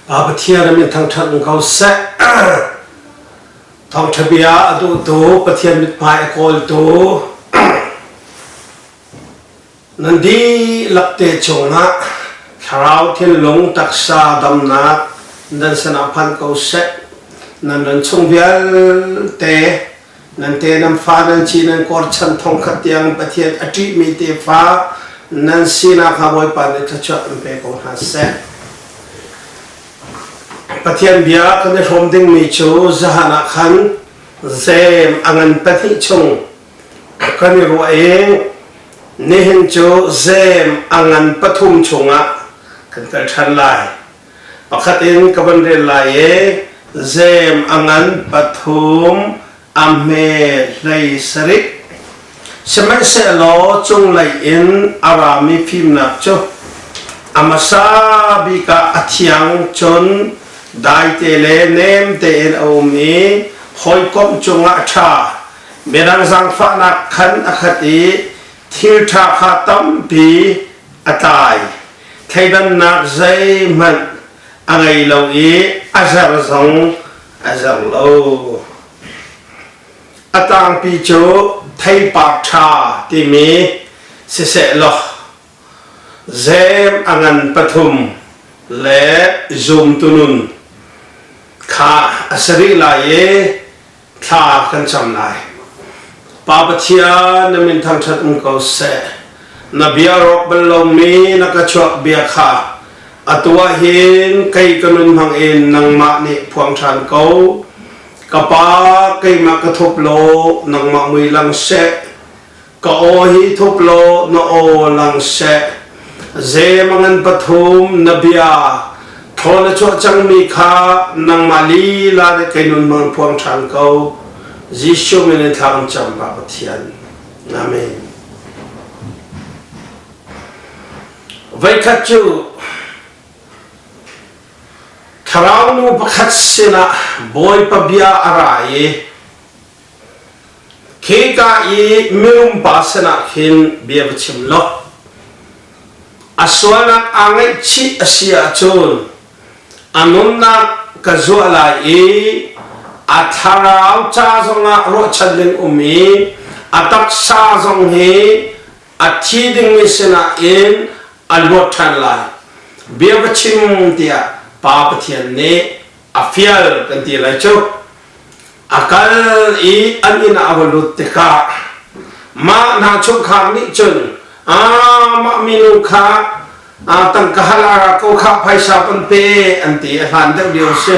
Pathian na min thangṭhat ning ko seh. Thawngṭha bia a duhtu, Pathian mithmai a kawltu, Na dihlak te chungah thlarau thinlung taksa damnak nan sinah phan ko seh nan ran chung vialte nan te nan fa nan ci nan kor chan thong khat tiang pathian a ṭih mi te fa nan sinak ha bawipa nih thlachuah an pe ko hna seh pathian bia kan i hrawm dingmi cu zahan ah khan zem a ngan pahnih chung ka kan i ruah i nihin cu zeem a ngan pathum chungah kan kal ṭhan lai. Pakhat in ka van rel lai i zeem a ngan pathum a hme hlei sarik sihmanhsehlaw cunglei in a rami fimnak cu a hmasa bik ah a thiang cun daite le nem tein a um i hawikomh cungah a ṭha. Mirang zaangfahnak khan a khat i thilṭha kha tampi a tlai. Thleidannak zeihmanh a ngei lo i a zer zong a zer lo. A tangpi cu theipak ṭha timi sisehlaw zeem a ngan pathum le zumtu nun kha a si rih lai i thla kan cam lai. Pa Pathian na min thangṭhat um ko seh. Na bia rawk bal lomi na ka chuak bia kha atu ah hin kei ka nun hmang in nangmah nih phuang ṭhan ko. Ka pa keimah ka thup law nangmah mui lang seh. ka aw hi thup lo na aw lang se ze mangan pathum na bia tho na chuah chang mi kha nangmah li la de kainun mang puang than ko Jesu min thlam cham ba pathian amen vai khat chu thlarau nu pakhat sinah bawi pa bia ara i Khika i mirumpa sinah hin bia va chim law, a sualnak aa ngaihchih a si ahcun a nunnak ka zuah lai i a thlarau ca zongah ruahchan ding um i a taksa zong hi a thi dingmi sinah in a luat ṭhan lai. Bia va chim tiah Pa Pathian nih a fial kan ti lai cu a kal i an inn ah a va lut tikah mah hna chungkhar nih cun mah minu kha tangka halala ko kha phaisa pan pe an ti a hlan deuh lio si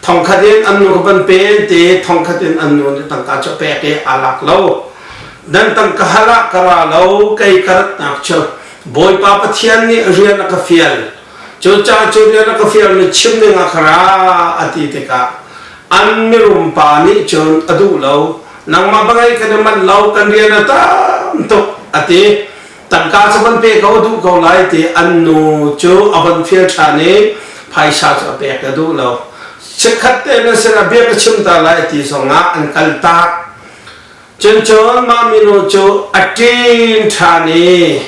thongkhat in an nu van pe an ti thongkhat in an nu nih tangka cu pek i a lak lo dan tangka hala kara lo kei karat nak cu bawipa pathian nih rian a ka fial Cu caan cu nih rak ka fialmi chim ding ah ka ra a ti tikah an mirum pa nih cun a duh lo. Nangmah bangei kan i manh lo, kan rian a tam tuk a ti. Tangka cu van pe ko duh ko lai ti an nu cu a von fial ṭhan i phaisa cu a pek a duh lo. Chikkhat te na sinah bia ka chim ta lai ti zong ah an kal tak. Cun mah mino cu a ṭin ṭhan i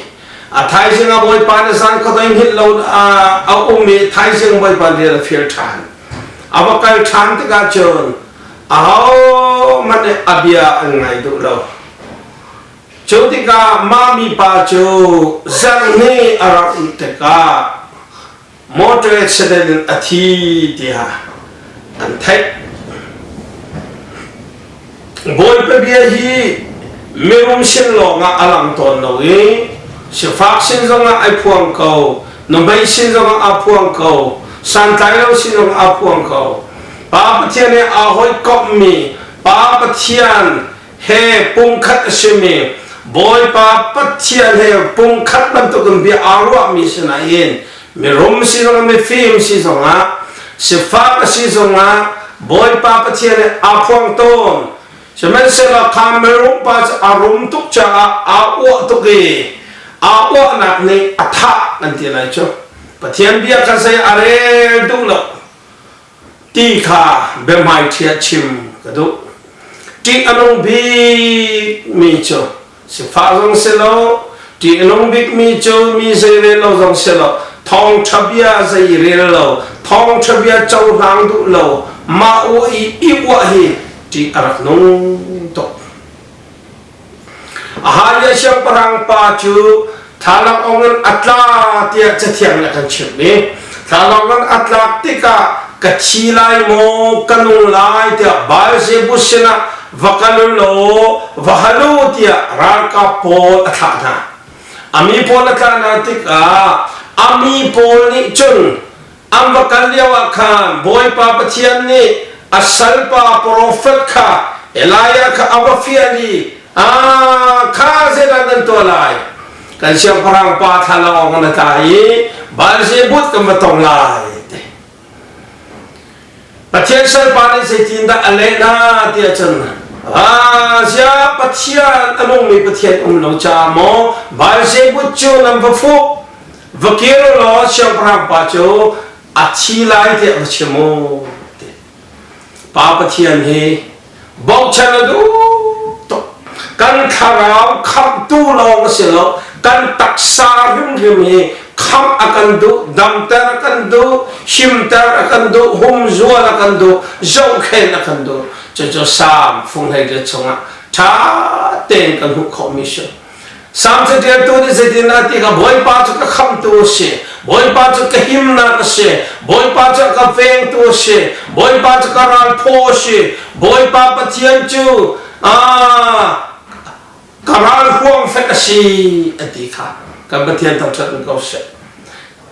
a thaizing a bawipa na san khuadei hngilh lo a um i thaizing bawipa rian a fir ṭhan. A va kal ṭhan tikah cun ahohmanh nih a bia an ngai duh lo. Cu tikah mah mipa cu zarhni a rak um tikah motor accident in a thi tiah an theih bawipa bia hi mirum sin lawngah a lang tawn lo i sifak sin zongah ai phuang ko namei sin zongah a phuang ko santlai lo sin zongah a phuang ko pa pathian he aa hoi kommi pa pathian he pumkhat a simi Bawipa Pathian he pumkhat bantukin bia aa ruahmi sinain mirum si zongah mifim si zongah sifak si zongah Bawipa Pathian he aa phuang tawn sihmanhsehlaw kha mirum pa cu a rum tuk caah aa uah tuk i aa uahnak nih a thah kan ti lai cu Pathian bia kha zei a rel duh lo ti kha biahmaiṭhia chim ka duh ṭih a nung bikmi cu sifah zong si lo ṭih a nung bikmi cu mi zei rel lo zong si lo thawngṭha bia zei rel lo thawngṭha bia cohlang duh lo mah uah i i uah hi ṭih a rak nung tuk A hlanlio siangpahrang pa cu thlalak ong a tla tiah cathiang nih a kan chimh mi thlalak ong a tlak tikah ka thi lai maw ka nu lai tiah Baal-zebus sinah va kal law va hal u tiah ralkap pawl a thlah hna a mi pawl a thlah hna tikah a mi pawl nih cun An va kal lioah khan Bawipa Pathian nih a salpa profet kha Elijah kha a va fial i, Aa, kha zeidah nan tuah lai? Kan siangpahrang pa thlalang awk na tla i Baal-zebut kan va tong lai. Pathian salpa nih zeitindah a leh hna tiah cun Ah, ziah Pathian a nungmi Pathian um lo caah maw Baal-zebut cu nan va fuh? va ke lo law siangpahrang pa cu a thi lai tiah va chim mu pa pathian hi bochan a duh tuk kan thlarau khamhtu lawng a si lo kan taksa hrimhrim hi khamh a kan duh damter a kan duh himter a kan duh humzual a kan duh zohkhen a kan duh cucu sang fung hlei le chungah tha tein kan hmuh khawh mi si Salm caṭialtu nih zeitindah ti kha Bawipa cu ka khamhtu a si, Bawipa cu ka himnak a si, Bawipa cu a ka vengtu a si, Bawipa cu ka ralphaw a si, Bawipa Pathian cu aa ka ralhruang hlek a si a ti kha kan Pathian thangṭhat in ko seh.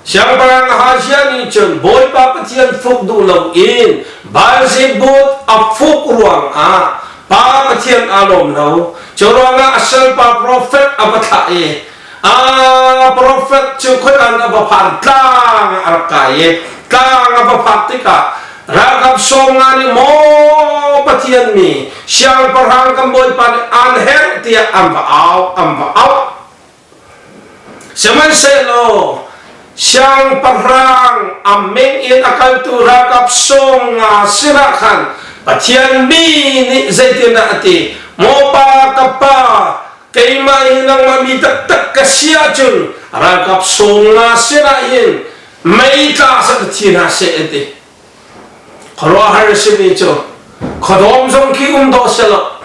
Siangpahrang Ahazia nih cun Bawipa Pathian fuk duh loin Baal-zebut a fuk ruangah pa Pathian aa lawm lo. Curuangah a salpa profet a va thlah i a profet cu khuadan a va phan, tlang ah a rak kai i tlang a va phak tikah ralkap sawm nga nih maw Pathian mi siangpahrang kan bawipa nih aan herh tiah an va au, an va auh. Sihmanhsehlaw siangpahrang a meng in a kaltu ralkap sawng nga sinah khan Pathian mi nih zeitindah a ti? Mopa ka pa, keimah hi nangmah mi taktak ka si ahcun ralkap sawng nga sinah hin mei tla sat thi hna seh an ti. Khuaruahhar a simi cu, khuadawm zong khi um dawh selaw,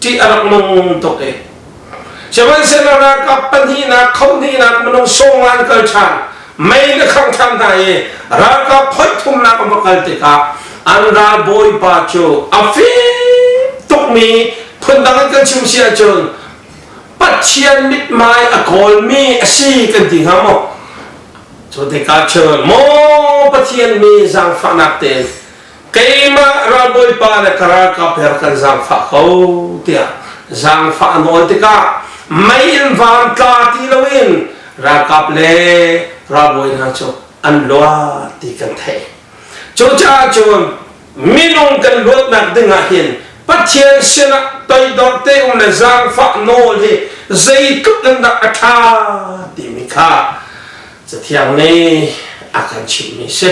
ṭih a rak nung tuk i sihmanhsehlaw ralkap pahnihnak khohnihnak minung songan kal ṭhan mei na khangh ṭhan hna i ralkap phoih thumnak a va kal tikah an ralbawipa cu a fik tukmi phundang in kan chim si ahcun pathian mithmai a kawlmi a si kan ti hnga maw cu tikah cun maw pathian mi zaangfahnak tein keimah ralbawipa le ka ralkap he kan zaangfah ko tiah zaangfah nawl tikah mei in van tla ti loin ralkap le ralbawi hna cu an luat ti kan theih cucaah cun minung kan luatnak dingah hin Pathian sinah toidor te um le zaangfah nawl hi zeitluk in dah a ṭha timi kha Cathiang nih a kan chimhmi si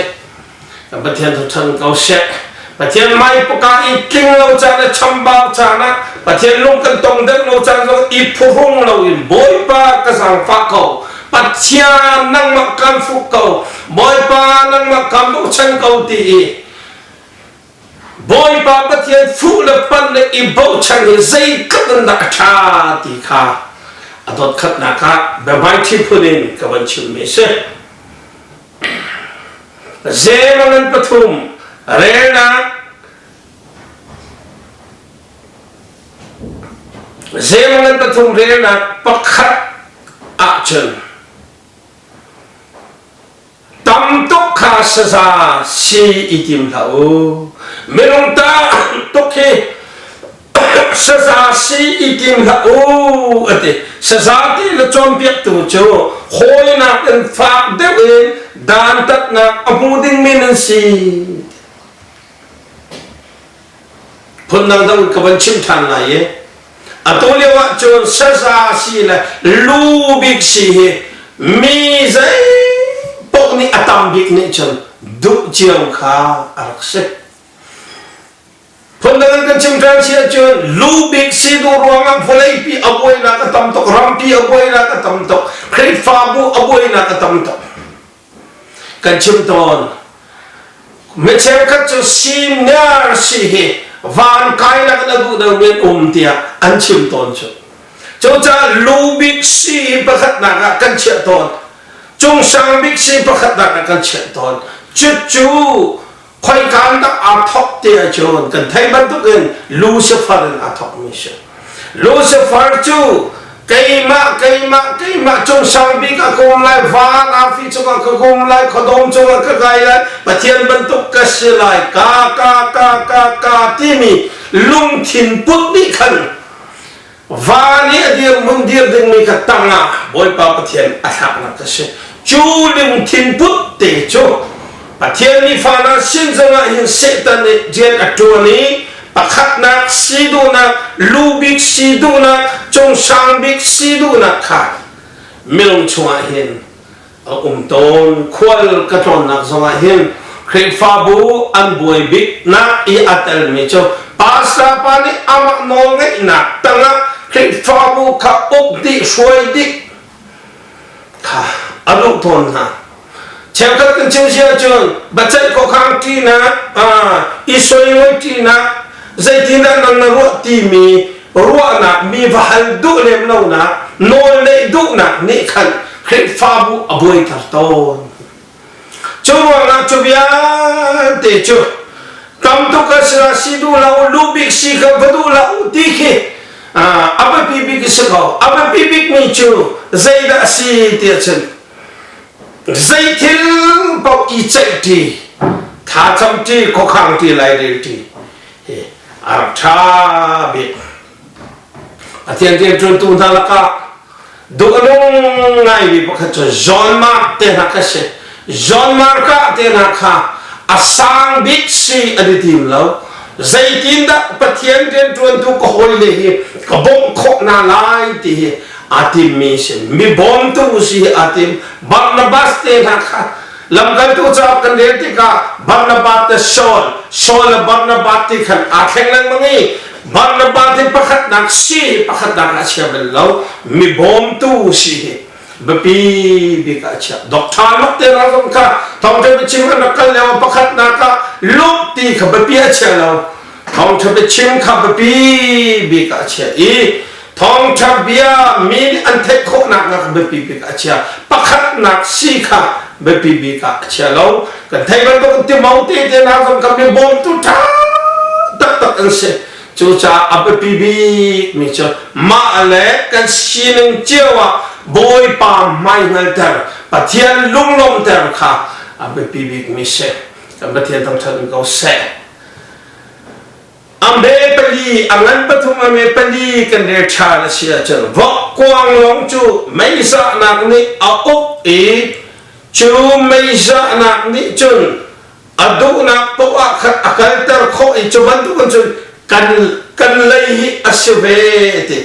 Pathian thu than ko shek. Pathian mai puka i tling lo caan le chambau caan ah Pathian lung kan tong deuh lo caan zong i phuhrung lo in Bawipa ka zangfah ko. Pathian nangmah kan fuh ko. Bawipa nangmah kan bochan ko ti i Bawipa Pathian fuh le pan le i bochan hi zeitluk in dah a tha ti kha a dot khat nak ah be mighty phun in ka van chim mi si. Zeemanan pathum relnak Zeemanan pathum relnak pakhat ahcun tam tuk kha saza si i tim hlah u minung ta tuk hi saza si i tim hlah u a ti saza ti le cawnpiaktu cu hawinak in fak deuh in dantatnak a hmu ding men an si phundang dang ka van chim than lai i atu lio ah cun saza si le lu bik si hi mi zei pok nih a tam bik nih cun duh cio kha a rak si Phundang in kan chim ṭhan si ahcun lu bik si duh ruangah vawlei pi a buainak a tam tuk, rampi a buainak a tam tuk, Khrihfabu a buainak a tam tuk. Kan chim tawn. Mi cheukhat cu senior si hi van kainak in a duhdo men um tiah an chim tawn cu. Cucaah lu bik si hi pakhatnak ah kan chiah tawn. Cung sang bik si pakhatnak ah kan chiah tawn. Cucu Khoikaan tak aa thawk te ahcun kan theih bantukin Lucifer in aa thawkmi a si. Lucifer cu keimah, keimah, keimah cung sang bik a kom lai, van arfi cungah ka kom lai, khuadawm cungah ka kai lai, Pathian bantuk ka si lai, ka, ka, ka, ka, ka timi lungthin put nih khan va nih a dirhmun dir dingmi ka tangah Bawipa Pathian a thlaknak a si. Cu lungthin put te cu Pathian nih fa hna sin zongah hin Satan nih rian a ṭuan i pakhatnak si duhnak, lubik si duhnak, cung sang bik si duhnak kha minung chungah hin a um tawn khual ka tlawnnak zongah hin Khrihfabu an buai biknak i a telmi cu pastor pa nih amah nawl ngeihnak tangah Khrihfabu kha uk dih hruai dih kha a duh tawn hna cheukhat kan chim sia cun bacaih khuakhang ṭinak i soimawi ṭinak zeitindah nan na ruah timi ruahnak mi va hal duh lem lonak nawl neih duhnak nih khan Khrihfabu a buaiter tawn cu ruangah cu vialte cu tamtuk ka si si duh lo lu bik si ka va duh lo ti khi a biapi bik si ko a biapi bik mi cu zeidah a si tiah cun zeithil paoh i ceih ṭi thacam ṭi khuakhang ṭi lairel ṭi hi a rak ṭha bik a tiantian ṭuntu hna lakah duhnung ngaimi pakhat cu John Mark te hna kha si John Mark ah te hna kha a sang bik si an i tim lo zeitin dah Pathian rian ṭuantu ka hawile hi ka bawmh khawh hna lai ti hi aa timmi si mibawmtu si aa tim Barnabas te hna kha lamkaltu caah kan rel tikah Barnabas te Saul Saul le Barnabas ti khan aa thleng lengmang i Barnabas ti pakhatnak si pakhatnak a chia bal lo mibawmtu si hi biapi bik a chia doctor luk te hna zong kha thawngtha biachim an rak kal leo pakhatnak ah lut ti kha biapi a chia lo thawngtha biachim kha biapi bik a chia i Thawngṭha bia mi nih an theih khawhnak na kan biapi bik ah a chia. Pakhatnak si kha biapi bik ah a chia lo. Kan theih bantuk timau tete hna zong kan mi bawmtu ṭha taktak an si. Cucaah a biapi bik mi cu mah le kan sining cio ah Bawipa hmaihngalter, Pathian lunglawmhter kha a biapi bik mi si. Kan Pathian thangṭhat in ko seh. Ambe pali, a ngan pathum a nge pali kan rel ṭhan a si ahcun vokkuang lawng cu meizahnak nih a uk i cu meizahnak nih cun a duhnak poah khan a kalter khawh i cu bantukin cun kan kan lei hi a si ve ti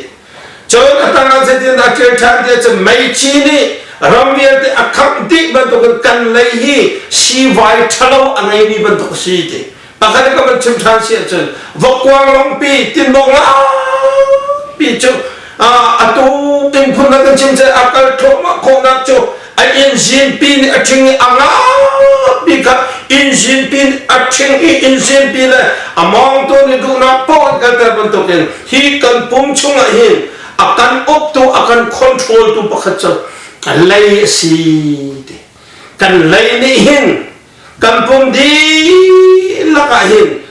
Cun a tang ah zeitin dah thil ṭha ti cun meici nih ram vialte a khamh dih bantukin kan lei hi siivai ṭhalo a ngeimi bantuk a si ti pakhat ka van chim ṭhan si ahcun vokkuang longpi tinbawk laapi cu atu tin phun kan chim cu a kal thluahmah khawhnak cu a inzin pin a ṭhing i a ngapi kha inzin pin a ṭhing i inzin pi le a mawngtawn i duhnak pawl kalter bantukin hi kan pum chungah hin a kan uktu a kan controltu pakhat cu lei a si ti kan lei nih hin kan pum dihlak ah hin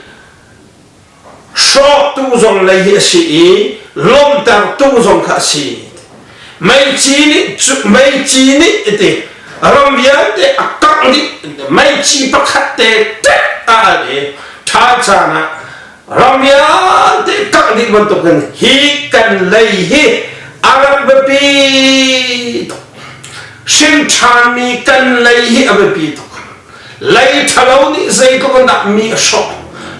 Hrawktu zong lei hi a si i lawmhtertu zong kha a si. Meici nih meici nih iti ram vialte a kangh dih meici pakhat te tek a al i tha caan ah ram vialte kangh dih bantukin hi kan lei hi a rak biapi tuk hrin thanmi kan lei hi a biapi tuk lei ṭhalo nih zeitluk in dah mi a hrawh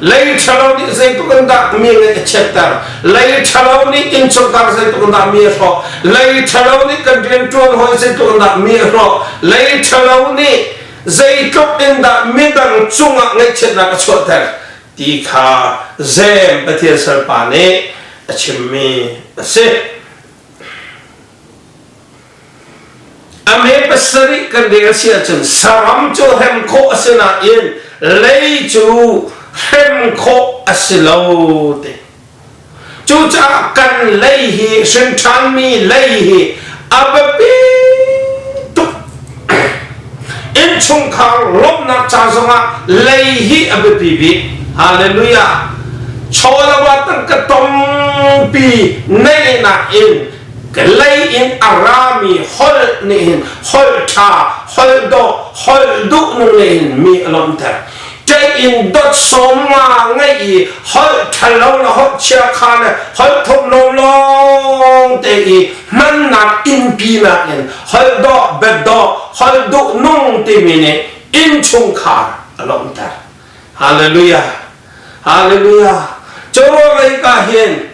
lei ṭhalo nih zeitluk in dah mi ngeih a chiatter lei ṭhalo nih inchungkhar zeitluk in dah mi a hrawh lei ṭhalo nih kan rianṭuan hawi zeitluk in dah mi a hrawh lei ṭhalo nih zeitluk in dah midang cungah ngaihchiatnak a chuahter ti kha Sem Pathian salpa nih a chimmi a si. A me pasarih kan ding a si ahcun saram cu hrem khawh a si nain lei cu hrem khawh a si lo te. Cucaah kan lei hi hrinṭhanmi lei hi a biapi tuk. Innchungkhar lawmhnak ca zongah lei hi a biapi bik. Hallelujah. Chaw le wa tangka tongpi neih nakin ka lei in a rami holh nih hin holh ṭha holh dawh holh duh ning nih hin mi a lawmter in dot sawm nga ngei i holh ṭhalo le holh chia kha le holh thop lawng te i hmannak innpi nakin holh dawh bet dawh holh duh nung timi nih inn chungkhar a lawmter Hallelujah. Hallelujah. Chawlei ka hin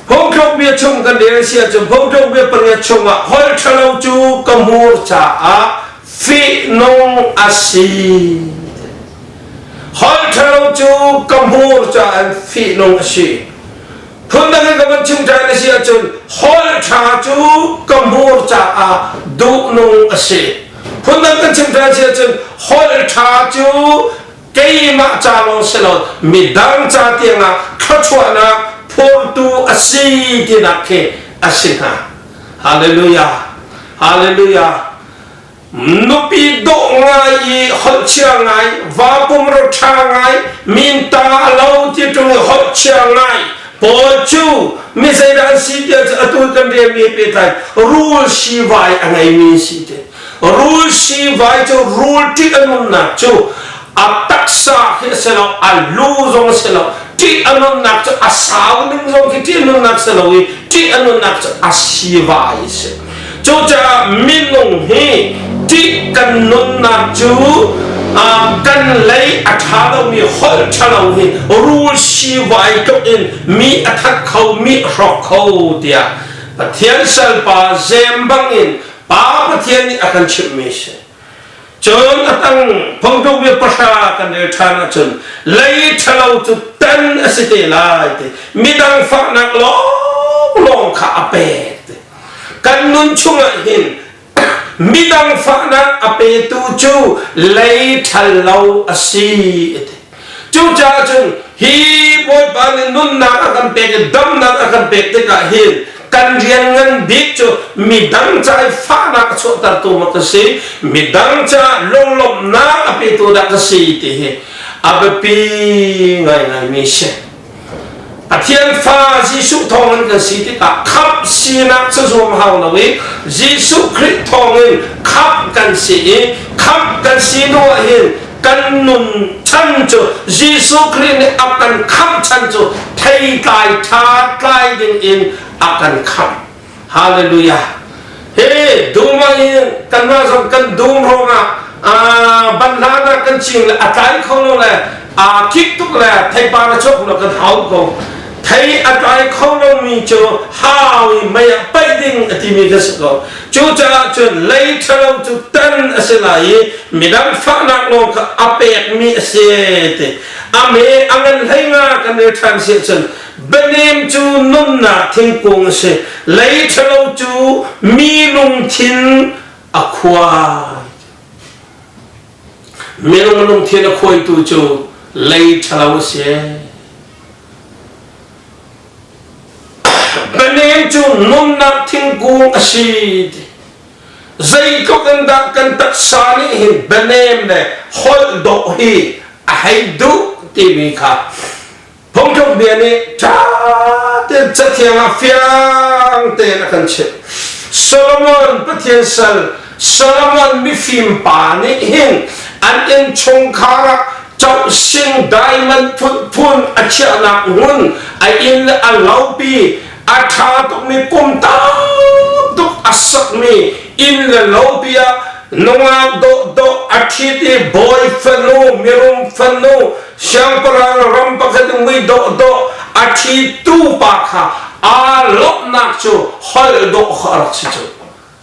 phungthluk bia chung kan rel sia cu phungthluk bia pariat chungah hol thalo cu ka hmur caah fihnung asi. Hol thalo cu ka hmur caah fihnung asi. Phundang in ka van chim ṭhan na si ahcun hall ṭha cu ka hmur caah duhnung a si. Phundang kan chim ṭhan si ahcun hall ṭha cu keimah ca lawng si lo midang ca tiangah thluachuahnak phurtu a si tinak khi a si hna. Hallelujah! Hallelujah! nupi dawh ngai i holhchia ngai vapum ro ṭha ngai min ta lo ti tu holhchia ngai paul cu mi zeidah an si tiah cu atu kan rian mi pehtlai rul si vai a ngei mi si te rul si vai cu rul ṭih a nunnak cu a taksa khi a si lo a lu zong a si lo ṭih a nunnak cu a sau ding zong khi ṭih a nunnak si lo i ṭih a nunnak cu a sivai a si cucaah minung hi ṭih kan nunnak cu kan lei a ṭha lomi holh ṭhalo hi rul sivai tluk in mi a that kho mi a hrawk kho tiah Pathian salpa zem bangin Pa Pathian nih a kan chimhmi a si Cun a tang phongtuk mi pahra kan rel ṭhan ahcun lei ṭhalo cu tan a si te lai ti midang faknak lawnglawng kha a pek ti kan nun chungah hin midang faknak a petu cu lei ṭhal lo a si ti Cucaah cun hi Bawipa nih nunnak a kan pek i damnak a kan pek tikah hin kan rian ngan bik cu midang caah i fahnak a chuahtertu maw ka si, midang caah lunglawmhnak a petu dah ka si ti hi a biapi ngaingaimi a si. Pathian fa Jesuh thawng in kan si tikah khamh sinak cu zuam hau lo i Jesuh Khrih thawng in khamh kan si i khamh kan si hnu ahhin kan nun chan cu Jesuh Khrih nih a kan khamh chan cu theitlai ṭha tlai ding in a kan khamh. Hallelujah. Hey, dumang in kanmah zong kan dum ruangah banhlanah kan ching le a tlai kho lo le aa kik tuk le theipar a chok lo kan hau ko thei a tlai kho lomi cu hau i mei ah paih ding a timi ka si ko cucaah cun lei ṭhalo cu tan a si lai i midang fahnak lawng kha a pekmi a si ti a me a ngan hlei nga kan i ṭhan si cun Bianem cu nunnak thingkung a si. Lei ṭhalo cu minung thin a khuai. Minung lungthin a khuaitu cu lei ṭhalo a si. Bianem cu nunnak thingkung a si. Zeitluk in dah kan taksa nih hin bianem le holh dawh hi a hei duh timi kha Thongtluk bia nih ṭha tein cathiang ah fiang tein a kan chimh. Solomon Pathian sal Solomon mifim pa nih hin an inn chungkhar ah cohsin diamond phunphun a chiahnak ngun a inn a lopi a ṭha tukmi kum tam tuk a sakmi inn le lopi ah nungak dawhdawh a ṭhit i bawi fanu mirum fanu siangpahrang ram pakhat in mui dawh dawh a ṭhitu pa kha aa lawmhnak cu holh dawh kha a rak si cu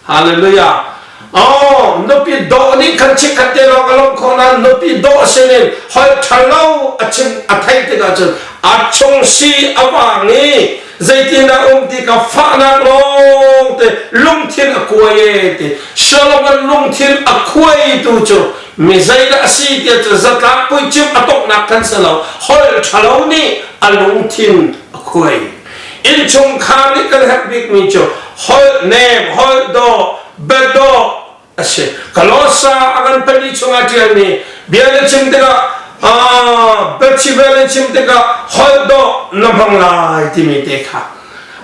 hallelujah Oh, nupi dawh nih kan chik khat te lawng a lawmh khawh nain nupi dawh sinin holh ṭhalo a chim a theih tikah cun a chung si a vang i zeitindah um ti ka fahnak lawng te lungthin a kuai e ti Solomon lungthin a kuaitu cu Mi zeidah a si tiah cu zatlak puicim a tonghnak khan si lo, holh ṭhalo nih a lungthin a khuai. Innchungkhar nih kan herh bikmi cu holh nem, holh daw, biadawh a si. Kolossa a kan pali chungah ṭialmi bia na chim tikah biachibel na chim tikah holh dawh na hmang lai timi te kha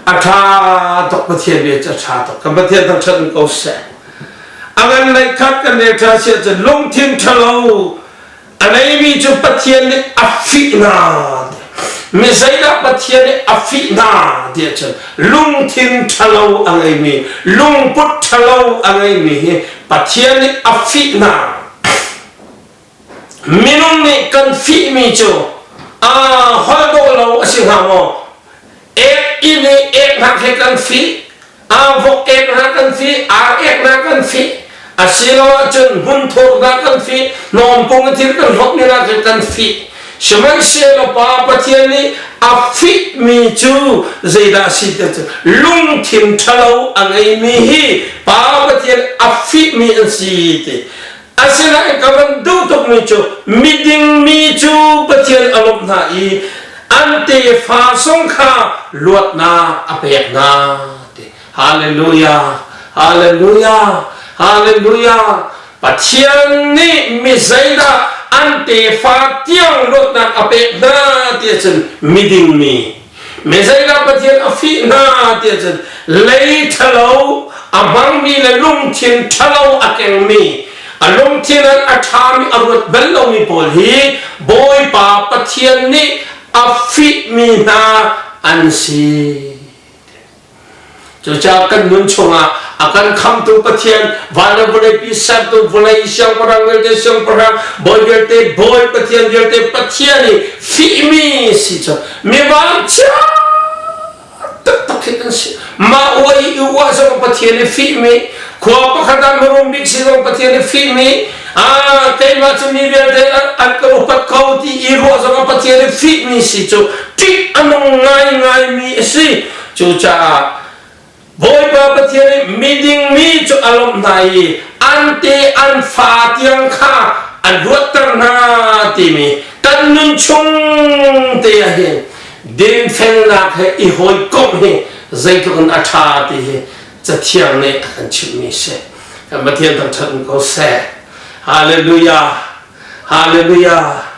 a ṭha tuk Pathian bia cu a ṭha tuk kan Pathian thangṭhat ko seh A ngan lei khat kan rel ṭha si ahcun lungthin ṭhalo a neimi cu Pathian nih a fih hna mi zeidah Pathian nih a fih hna ti ahcun lungthin ṭhalo a ngeimi lungput ṭhalo a ngeimi hi Pathian nih a fih hna Minung nih kan fihmi cu aa holh dawh lo a si hnga maw? Ek inn i ek hnak hi kan fih, aa vok ek hna kan fih, ar ek hna kan fih, asiloahcun hmun thur hna kan fih, hnawmpung i thil kan hlawtmi hna khi kan fih. Sihmanhsehlaw Pa Pathian nih a fihmi cu zeidah a si ti cu lungthin ṭhalo a ngeimi hi Pa Pathian a fihmi an si ti Asinain ka van duh tukmi cu miding mi cu Pathian a lawmh hna i an tefa sung kha luatnak a pek hna ti. Hallelujah! Hallelujah! Hallelujah! Pathian nih mi zeidah an tefa tiang luatnak a pek hna ti ahcun miding mi Messiah Pathian a fih hna tiah cun lei ṭhalo a hmangmi le lungthin ṭhalo a kengmi a lungthin an a ṭhami a ruat bal lomi pawl hi Bawipa Pathian nih a fihmi hna an si. Cucaah kan nun chungah a kan khamtu Pathian van le vawlei pi sertu vawlei siangpahrang vialte siangpahrang bawi vialte bawi Pathian vialte Pathian i fihmi si cu mi vanchia taktak khi kan si mah ua i uah zong Pathian i fihmi khua pakhat ah mirum bik si zong Pathian i fihmi Ah, keimah cu mi vialte an ka upat ko ti i ruah zong a Pathian i fihmi si cu ṭih a nung ngaingai mi a si. Cucaah Bawipa Pathian i miding mi cu a lawmh hna i an te an fa tiang kha a luatter hna timi kan nun chung te ah hin dinfelnak he i hawikomh hi zeitluk in a ṭha ti hi cathiang nih a kan chimhmi si kan Pathian thangṭhat ko seh Hallelujah Hallelujah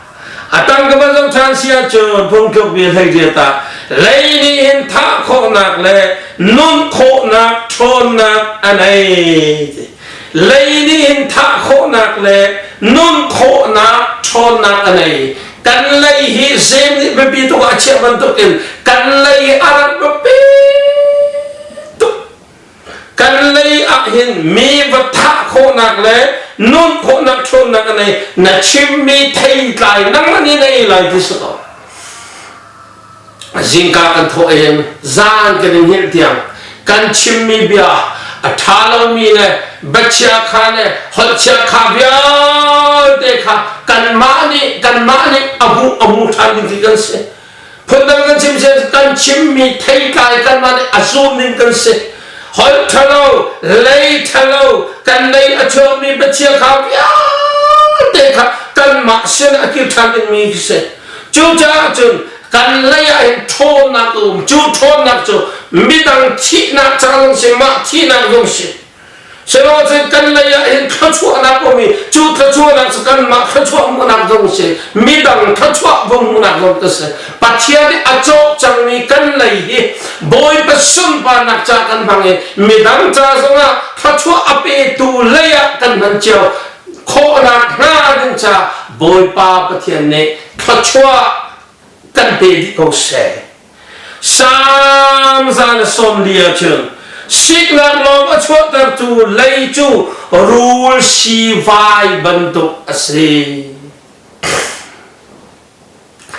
a tang ka van zoh ṭhan si ahcun phungtluk bia hlei dia ta lei nih hin thah khawhnak le nun khawhnak ṭhawnnak a nei ti lei nih hin thah khawhnak le nun khawhnak ṭhawnnak a nei kan lei hi zeim nih biapi tuk ah a chiah bantukin kan lei a rat biapi tuk kan lei ah hin mi va thah khawhnak le nun khawhnak ṭhawnnak a nei na chimmi theitlai nang ni nei lai ti si ko zingka kan thawh in zan kan in hngilh tiang kan chimmi bia a ṭha lomi le bachia kha le holhchia kha vialte kha kanmah nih kanmah nih abu abu ṭhan ding khi kan si phundang kan chim si kan chimmi theitlai kanmah nih a zum ning kan si holh ṭhalo lei ṭhalo kan lei a chuakmi bachia kha vialte kha kanmah sin a kir ṭhan dingmi khi si Cucaah cun kan lei ah hin ṭhawnnak a um cu ṭhawnnak cu midang thihnak caan si mah thihnak zong si sihmanhseh kan lei ah hin thluachuahnak um i cu thluachuahnak cu kanmah thluachuah hmuhnak zong si midang thluachuah vung hmuhnak zong ka si Pathian nih a cawh cangmi kan lei hi Bawipa sunparnak ca kan hmang i midang ca zongah thluachuah a petu lei ah kan hman cio khawhnak hna kan ca Bawipa Pathian nih thluachuah kan pe dih ko seh Salm zan a sawm li ahcun siknak lawng a chuahtertu lei cu rul si vai bantuk a si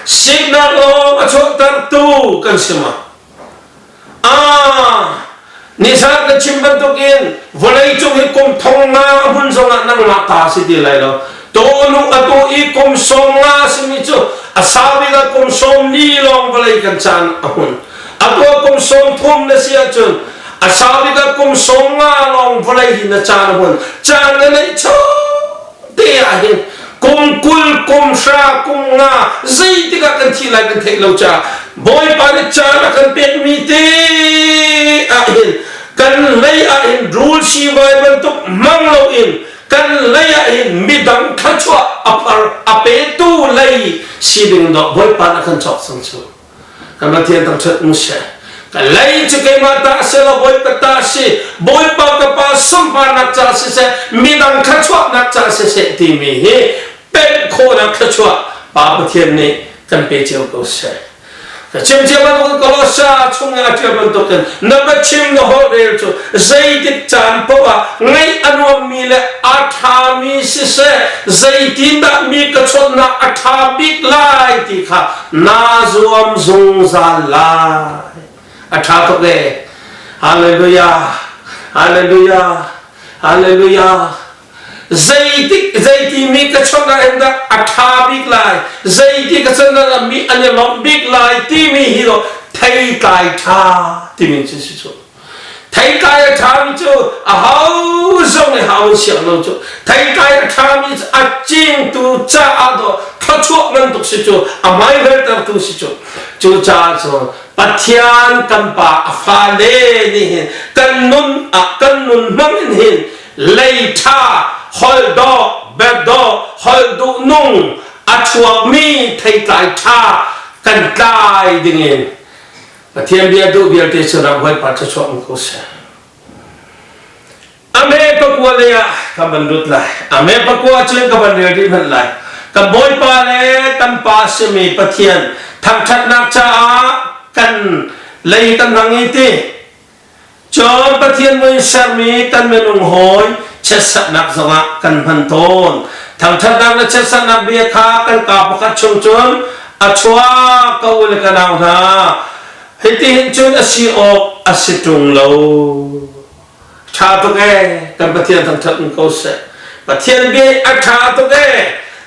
Siknak lawng a chuahtertu kan si ma? Ah, nisan ka chim bantukin vawlei cung i kum thong nga a hmun zongah nangmah ta si ti lai lo. Tawnu a tu i kum sawm nga a simi cu a saubik ah kum sawm li lawng vawlei kan caan a hmun. A tua kum sawm thum na si ahcun a saubik ah kum sawm nga lawng vawlei hi na caan a hmun. Caan na neih cho te ah hin kum kul kum hra kum nga zei tikah kan thi lai kan theih lo cha bawipa nih caan a kan pek mi te ah hin kan lei ah hin rul si vai bantuk mang lo in kan lei ah hin midang thlachuah a par a petu lei si ding do bawipa na kan chok sang chu Kan Pathian tang ṭhat ung seh. Ka lei cu keimah ta si lo Bawipa ta si. Bawipa ka pa sunparnak ca siseh, midang thluachuahnak ca siseh timi hi pemh khawhnak thluachuah Pa Pathian nih kan pe cio ko seh. Ka chimcia bantuk Kolossa chung i a ṭial bantukin na biachim na holhrel cu zeitik caan paoh ah ngaih a nuammi le a ṭhami siseh, zeitindah mi ka chawnhnak a ṭha bik lai ti kha naa zuam zungzal lai a ṭha tuk e Hallelujah Hallelujah Hallelujah zeitik zeiti mi ka chawnh ah in dah a ṭha bik lai zeiti ka chawnh ah mi an i lawmh bik lai timi hi do thei tlai ṭha timi cu si cu Theitlai a ṭhami cu a ho zong nih hau an siang lo cu. Theitlai a ṭhami cu a cingtu caah do thluachuah ngan tuk si cu, a maiveltertu si cu. Cucaah cu Pathian kan pa a fale nih hin kan nun ah kan nun hmang in hin lei ṭha, holh dawh, berhdawh, holh duhnung a chuakmi theitlai ṭha kan tlai ding in Pathian bia duh vialte cu ram hawipa thluachuah um ko seh. Amen pakua le ah ka van lut lai. Amen pakua cu ka van rel dih hmanh lai. Ka bawipa le tampa simi Pathian thangthatnak caah kan lei kan rang i ti Cun Pathian mui sermi kan minung hawi chiatsaknak zongah kan hman tawn. Thangṭhatnak le chiatsaknak bia kha kan ka pakhat chung cun a chuak ko le ka nau hna, hitihin cun a si awk a si ṭung lo. Ṭha tuk ee, kan Pathian thangṭhat ko seh. Pathian bia a ṭha tuk e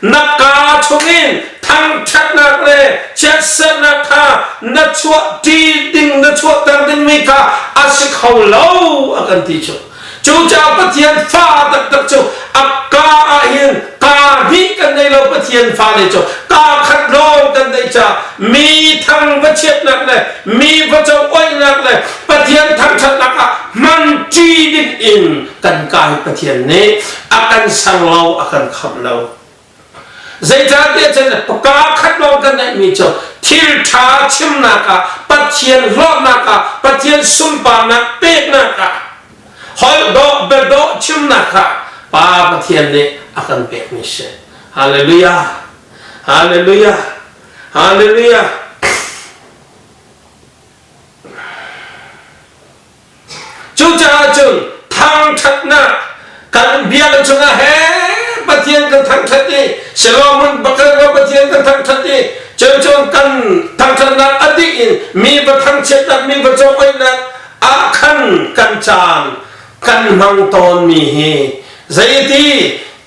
na ka chungin thangṭhatnak le chiatserhnak kha na chuah ṭi ding na chuahter dingmi kha a si kho lo a kan ti cu cucaah Pathian fa taktak cu a ka ahhin ka hnih kan nei lo Pathian fale cu ka khat lawng kan neih ca mi thang va chiatnak le mi va co oihnak le Pathian thangṭhatnak ah hman ṭi ding in kan kai Pathian nih a kan sang lo a kan khamh lo zeicahtiah cun pa khat lawng kan neihmi cu thil ṭha chimnak ah Pathian hlawtnak ah Pathian sunparnak peknak ah holh dawh biadawh chimnak ah Pa Pathian nih a kan pekmi si halleluja halleluja halleluja Cucaah cun thangṭhatnak kan biakinn chungah he Pathian kan thangṭhat i Solomon bakar va Pathian kan thangṭhat i cun cun kan thangṭhatnak a dih in mi va thangchiatnak mi va cung oihnak ah khan kan caan kan hmang tawnmi hi zeiti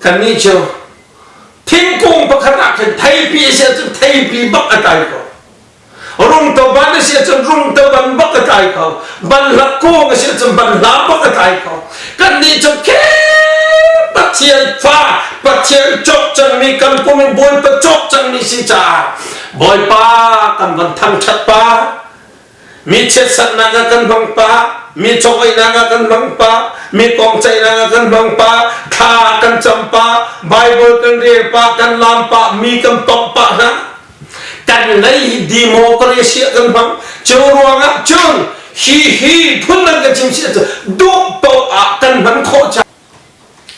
kannih cu thingkung pakhat ah khan theipi a si ahcun theipi bak a tlai ko rungto ban a si ahcun rungto ban bak a tlai ko banhla kung a si ahcun banhla bak a tlai ko kannih cu khep pathian fa pathian cawk cangmi kan pum in bawipa cawk cangmi si caah bawipa kan van thangṭhat pa Mi chiatsaknak ah kan hmang pa, mi chaweinak ah kan hmang pa, mi kongceihnak ah kan hmang pa, thla kan cam pa, Bible kan rel pa, kan lam pa, mi kan tawng pa hna. Kan lei democracy kan hmang. Cu ruangah cun hi hi phun nan kan chim si cu duh to ah kan hman khawh cha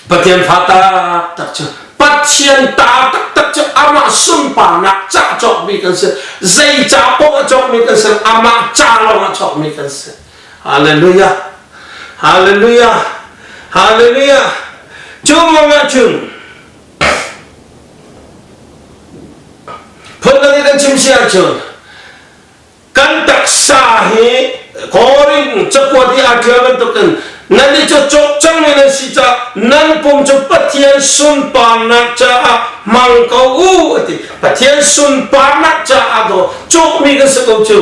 Pathian fa taktak cu Pathian ta taktak cu amah sunparnak ca cawkmi kan si zeica paoh a cawkmi kan si amah ca lawngah cawkmi kan si Hallelujah Hallelujah Hallelujah cu mong ah cun phun dang in an chim si ahcun kan taksa hi Korin cakuat i aa ṭial bantukin nannih cu cawkcang mi nan si caah nan pum cu Pathian sunparnak caah hmang ko u a ti Pathian sunparnak caah daw cawkmi kan si ko cu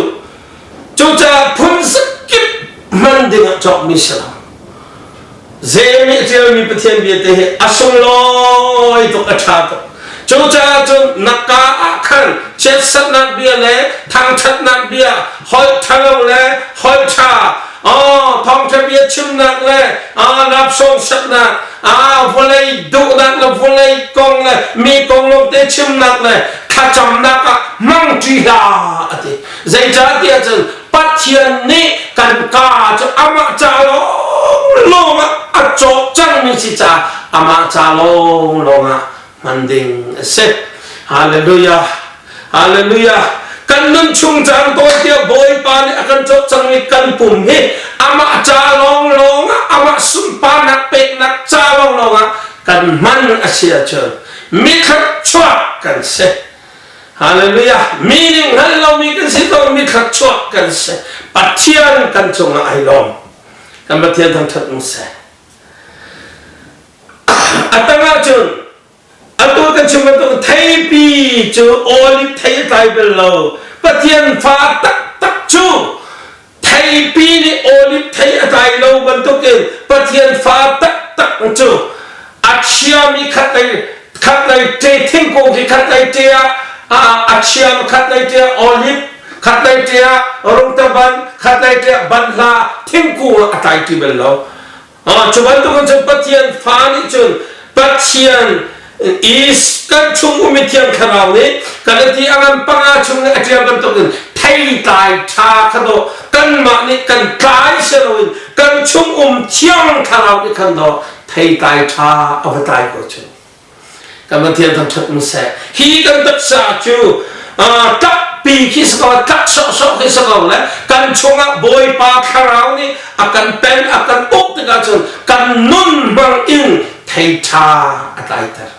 cucaah phun zakip hman dingah cawkmi si lo Zei nih ṭialmi Pathian vialte hi a sunglawi tuk, a ṭha tuk. Cucaah cun na kaa ah khan chiatsatnak bia le thangṭhatnak bia, holh ṭhalo le holh ṭha, thawngṭha bia chimnak le rapsawng saknak, vawlei duhnak le vawlei kong le mi kong lawngte chimnak le thlacamnak ah hmang ṭi hlah, a ti. Zeicahtiah cun Pathian nih kan kaa cu amah ca lawnglawng ah a cawh cangmi si caah amah ca lawnglawng ah hman ding a si. Hallelujah. Hallelujah. Kan nun chung caan tawn tiah Bawipa nih a kan cawh cangmi kan pum hi amah ca lawnglawng ah amah sunparnak peknak ca lawnglawng ah kan hman a si ahcun mi thluachuah kan si. Hallelujah! Meaning hngalh lomi kan si tawnmi thluachuah kan si. Pathian kan cungah ai lawm. Kan Pathian thangṭhat u sih. A tangah cun atu kan chim bantuk theipi cu oliv thei a tlai bel lo. Pathian fa taktak cu theipi nih oliv thei a tlai lo bantukin Pathian fa taktak cu a chiami khat lei khat lei ṭe thingkung khi khat lei ṭe ah a chiam khat lei ṭe ah olive khat lei ṭe ah rungtaban khat lei ṭe ah banhla thingkung a tlai ti bel lo Cu bantukin cun Pathian fa nih cun Pathian is kan chung ummi thiang thlarau nih kan i a ngan panga chung i a ṭial bantukin theitlai ṭha kha daw kanmah nih kan tlai si loin kan chung um thiang thlarau nih khan daw theitlai ṭha a va tlai ko chung kan van thian thang ṭhat mu seh hi kan taksa cu ṭappi khi sa ko ṭap sawhsawh khi sa ko le kan chungah bawipa thlarau nih a kan pen a kan uk tikah cun kan nun hmang in theiṭha a tlaiter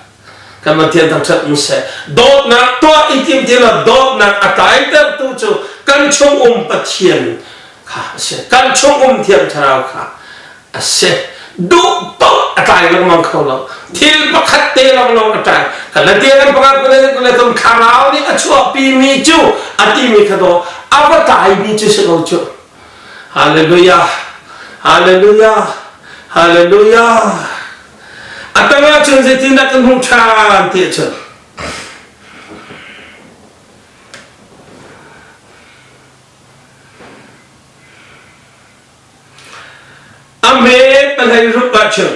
kan van thian thang ṭhat mu seh dawtnak tuah i tim ti lo dawtnak a tlaitertu cu kan chung um pathian kha a si kan chung um thiang thlarau kha a si duhpaoh a tlai lengmang kho lo thil pakhat te lawnglawng a tlai kalatia kan pakhat kule tung thlarau nih a chuahpi mi cu a timi kha do a va tlai mi cu si lo cu hallelujah hallelujah hallelujah a tangah cun zeitin dah kan hmuh ṭhan ti cun A hme palei rup ah chim.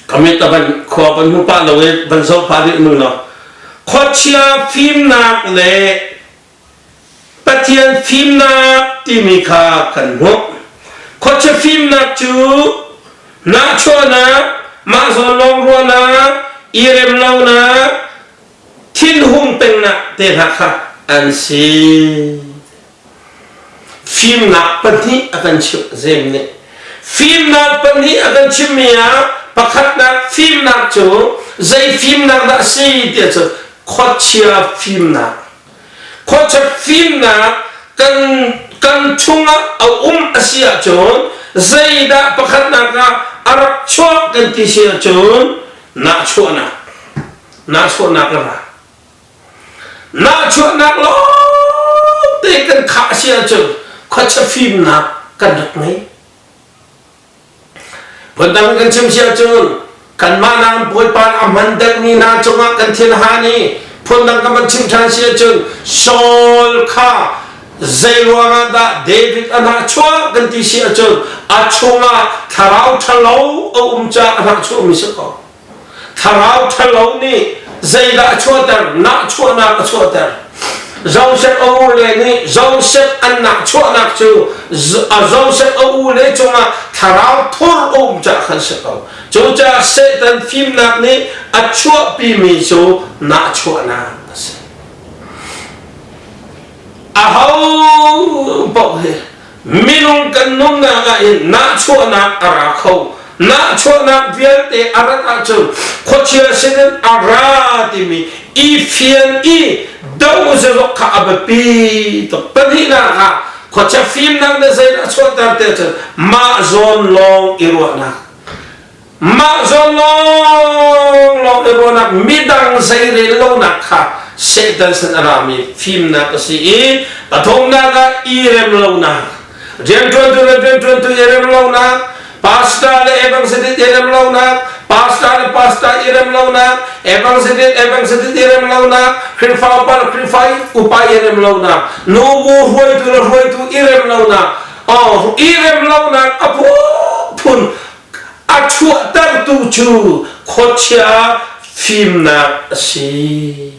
Kami ta ban khua ban hu pa lo i ban so pa nih nu lo. Khochia fimnak le Pathian fimnak timi kha kan hmuh. Khochia fimnak cu nachawnak mahzawn lawng ruahnak irem lonak thin hung pengnak te hna kha an si. Fimnak pahnih a kan chimh. Zem nih fimnak pahnih a kan chimhmi ah pakhatnak fimnak cu zei fimnak dah a si ti cu khuachia fimnak. Khuachia fimnak kan kan chungah a um a si ahcun zeidah pakhatnak ah a rak chuak kan ti si ahcun nahchuahnak nahchuahnak a ra. Nahchuahnak lawngte kan khah a si ahcun khuacha fimnak kan rak ngei. Phundang kan chim si ahcun kanmah naam Bawipa a hman delhmi hna cungah kan thiên han i phundang kan van chim ṭhan si ahcun Saul kha zei ruangah dah David a hnahchuah kan ti si ahcun a chungah thlarau ṭhalo a um caah a hnahchuahmi si ko. Thlarau ṭhalo nih zeidah a chuahter? Nahchuahnak a chuahter. Joseph a u le nih Joseph an nahchuahnak cu Joseph a u le cungah thlarau thur a um caah khan si ko. Cucaah Satan fimnak nih a chuahpimi cu nahchuahnak a si. Aho paoh hi minung kan nunnak ah hin nahchuahnak a ra kho nahchuahnak vialte a rat ahcun khuachia sinin a ra timi i fian i do zalok kha a biapi tuk pahnihnak ah khuachia fimnak na zei na chuanter te ahcun mah zawn lawng i ruahnak Mah zawn lawnglawng le ruahnak midang zeirel lonak kha Satan san a rami fimnak a si i a thawknak ah i rem lonak, rianṭuantu le rianṭuantu i rem lonak, pastor le evangelist i rem lonak, pastor le pastor i rem lonak, evangelist evangelist i rem lonak, Khrihfa upa le Khrihfa upa i rem lonak, nubu hruaitu le hruaitu i rem lonak, oh, i rem lonak a phun a chuahtertu cu khuachia fimnak a si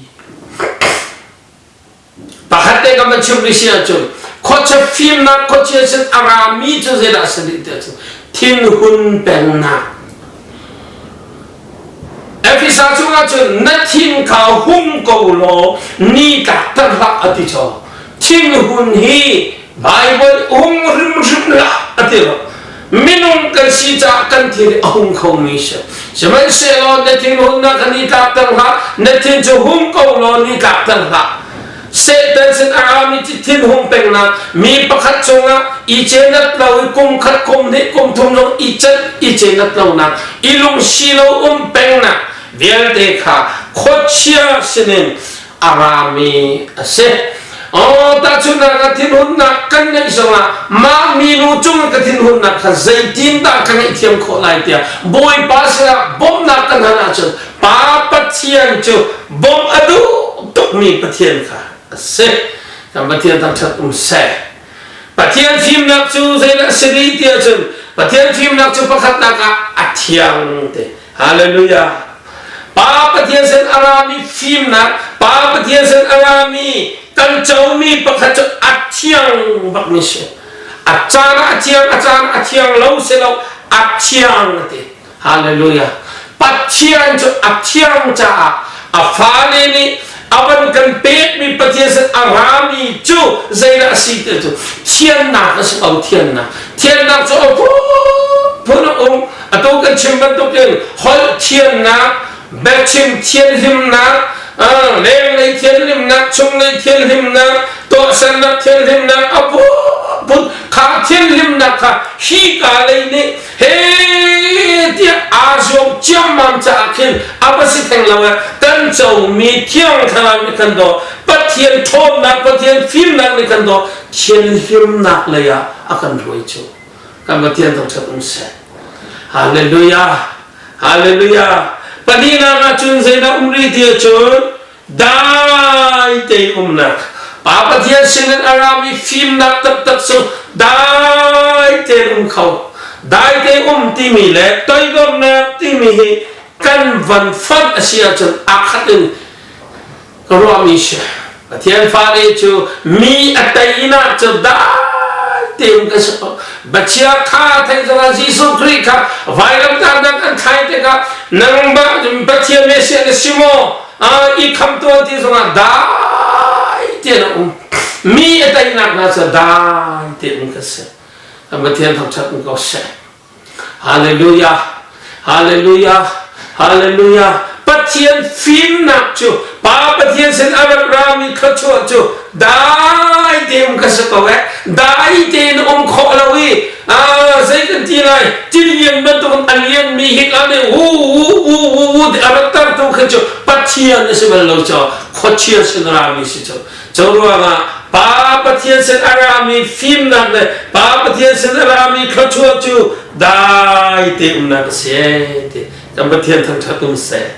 pakhat te kan van chim rih si ahcun khuachia fimnak khuachia sin a rami cu zeidah a si rih ti ahcun thinhun pengnak Ephesa chungah cun na thin kha hum ko law ni tlakter hlah a ti caw thinhun hi Bible um hrimhrim hlah a ti lo minung kan si caah kan thil a hung khomi si sihmanhsehlaw na thinhunnak kha ni tlakter hlah na thin cu hum ko law ni tlakter hlah Satan sin a rami cu thil hung pengnak mi pakhat cungah i cenat lo i kum khat kum hnih kum thum lung i cenat i cenat lonak i lungsi lo um pengnak vialte kha khuachia sinin a rami a si. Oh, tahchunhnak ka thinhunnak kan ngeih zongah mah minu cung ka thinhunnak kha zeitin dah ka ngeihthiam khawh lai tiah Bawipa sinah bawmhnak kan hal ahcun Pa Pathian cu bawmh a duh tukmi Pathian kha a si. Kan Pathian thangṭhat um seh. Pathian fimnak cu zeidah a si dih ti ahcun Pathian fimnak cu pakhatnak ah a thiang te. Hallelujah. Pa Pathian sin a rami fimnak, Pa Pathian sin a rami kan comi pakhat cu a thiang bakmi si. A caan ah a thiang, a caan ah a thiang lo si lo, a thiang a ti. Hallelujah. Pathian cu a thiang caah a fale nih a van kan pekmi Pathian sin a rami cu zeidah a si ti cu thiannak a si ko thiannak thiannak cu a phun a um a tu kan chim bantukin holh thiannak biachim thianhlimnak lenglei thianhlimnak chunglei thianhlimnak tuahsannak thianhlimnak a phun kha thianhlimnak kha hi ka lei nih he tiah aa zuam ciammam caah khin a va si theng lo eh kan comi thiang thlarau nih kan daw pathian ṭhawnnak pathian fimnak nih kan daw thian hirnak lei ah a kan ruai cu kan pathian thangṭhat um seh hallelujah hallelujah pahnihnak ah cun zeidah um rih ti cun dai tein umnak Pa Pathian sinin a rami fimnak taktak cu dai tein um kho dai tein um timi le toikomnak timi hi kan van fanh a si ahcun a khat in ruahmi si Pathian fale cu mi a teinak cu dai tein kan si Bachia tha thei zara Jesuh Khrih kha vailam kahnak an thai tikah nang ba Pathian Messiah na si maw? I khamtu ti zongah dai tian a um. Mi a teinak hna cu dai tian kan si. Pathian thangṭhat um ko seh. Hallelujah. Hallelujah! Hallelujah! Pathian fimnak cu Pa Pathian sin a rak rami thluachuah cu dai tein ka si ko eh dai tein um khawh lo i ah zei kan ti lai thil lian bantukin a lian mi hi ka nih hu hu hu hu hu a rak tartu khi cu Pathian a si bal lo caah khuachia sin rami si cu Cu ruangah Pa Pathian sin a rami fimnak le Pa Pathian sin a rami thluachuah cu dai te umnak a si ti kan Pathian thangṭhat um seh.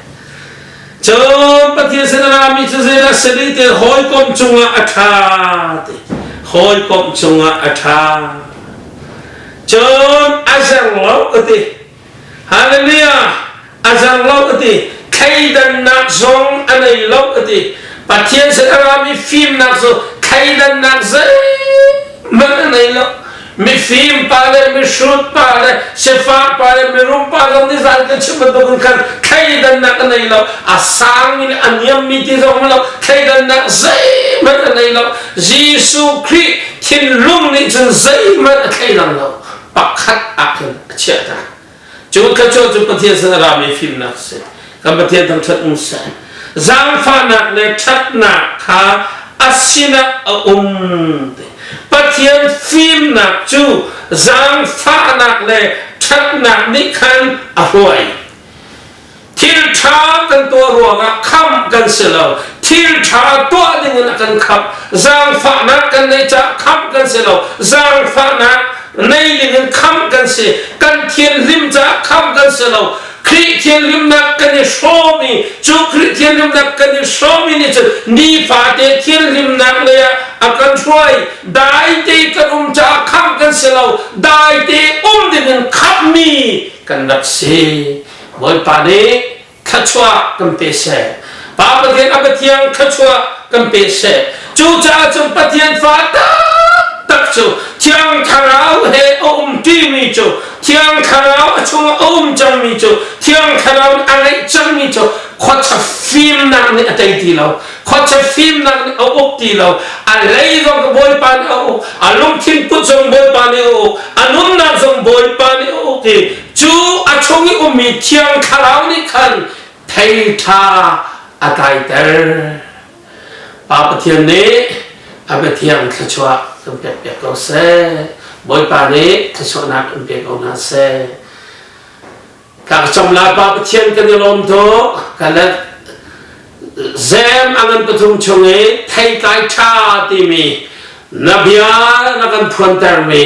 Cun Pathian sin a rami cu zeidah a si rih ti hawikom cungah a ṭha ti hawikom cungah a ṭha. Cun a zeng lo ka ti. Hallelujah! A zang lo a ti. Thleidannak zong a nei lo a ti. Pathian sin a rami fimnak cu thleidannak zeihmanh a nei lo. Mifim pa le mihrut pa le sifak pa le mirum pa zong nih zan kan chim bantuk in khan thleidannak a nei lo. A sang in a niammi ti zong a lo. Thleidannak zeihmanh a nei lo. Jesuh Khrih thinlung nih cun zeihmanh a thleidan lo. pakhat ah khan a chiah ta. Cu thluachuah cu Pathian sin a rami fimnak a si. Kan Pathian thangṭhat um seh. Zaangfahnak le ṭhatnak kha a sinah a um ti. Pathian fimnak cu zaangfahnak le ṭhatnak nih khan a hruai. thil ṭha kan tuah ruangah khamh kan si lo thil ṭha tuah dingin a kan khamh zaangfahnak kan neih caah khamh kan si lo zaangfahnak nei dingin khamh kan si kan thianhlim caah khamh kan si lo Khrih thianhlimnak kan i hrawm i cu Khrih thianhlimnak kan i hrawm i nih cun nifate thianhlimnak lei ah a kan hruai dai te kan um caah khamh kan si lo dai te um dingin khamhmi kan rak si Bawipa nih thluachuah kan pe seh. Pa Pathian a Pathian thluachuah kan pe seh. Cucaah cun Pathian fa taktak cu Thiang Thlarau he a um ṭimi cu Thiang Thlarau a chungah a um cangmi cu Thiang Thlarau nih a ngeih cangmi cu khuacha fimnak nih a tei ti lo. Khuacha fimnak nih a uk ti lo. A lei zong Bawipa nih a uk. A lungthin put zong Bawipa nih a uk. A nunnak zong Bawipa nih a uk i cu a chung i ummi thiang thlarau nih khan theitha a tlaiter pa pathian nih a biathiang thluachuah kan pekpiak ko seh bawipa nih thluachuahnak in pe ko hna seh ka ka cam lai pa pathian kan i lawm tu ka let zem a ngan pathum chung i theitlai tha timi na bia na kan phuantermi